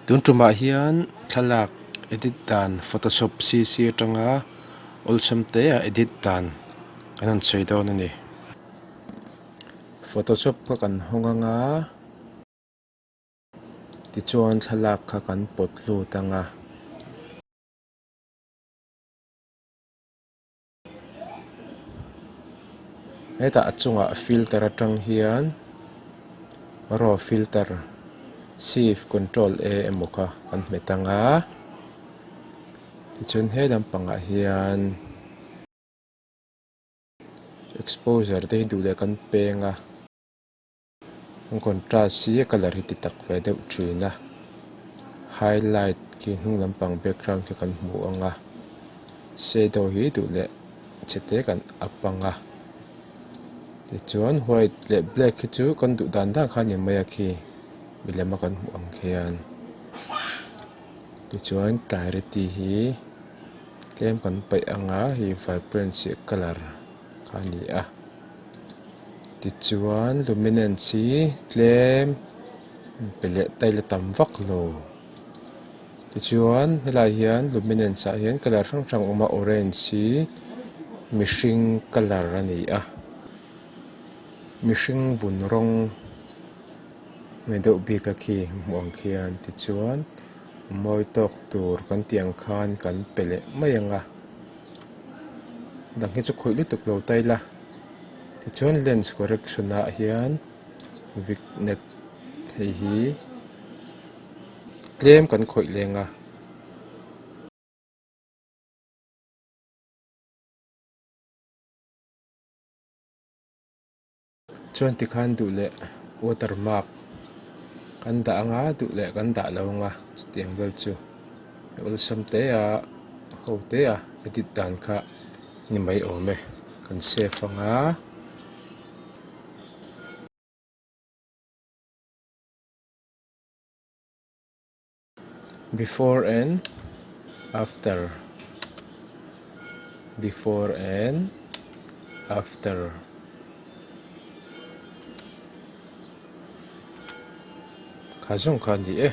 Tun tumah hian thlalak edit dan photoshop cc atanga awlsam te a edit dan kan han sawi dawn a ni photoshop kha kan hawng ang a tichuan thlalak kha kan pawt lut ang a. hetah a chungah filter atang hian raw filter sieve control e emaw kha kan hmu ta nga tichuan he lampangah hian exposure te hi duh leh kan peng a. An contrast hi a colour hi ti tak ve deuh thin a highlight khi hnung lampang background khi kan hmuh ang a shadow hi duh leh chete kan a pang a tichuan white leh black khi chu kan duh dan dan kha a ni mai a khi milem a kan hmuh ang khian tichuan clarity hi tlem kan paih ang a hei vibrance colour -- a ni a. Tichuan luminance hi tlem pe leh tail a tam vak lo. Tichuan helai hian luminance ah hian colour hrang hrang a awm a orange hi mihring colour a ni a mihring vun rawng nge deuh bik a khi hmuh ang khian tichuan-- Mawi tawk tur kan tih ang khan kan pe leh mai ang a, dang hi chu khawih lutuk lo ta ila, tichuan lens correction ah hian vik net hei hi tlem kan khawih leng a. Chuan tikhan duh leh watermark kan dah anga duh leh kan dah lo anga chutiang vel chu i awlsam hle a ho hle a edit dan kha ni mai awm e kan save anga. Before and after Before and after Kha zawng kha ni e.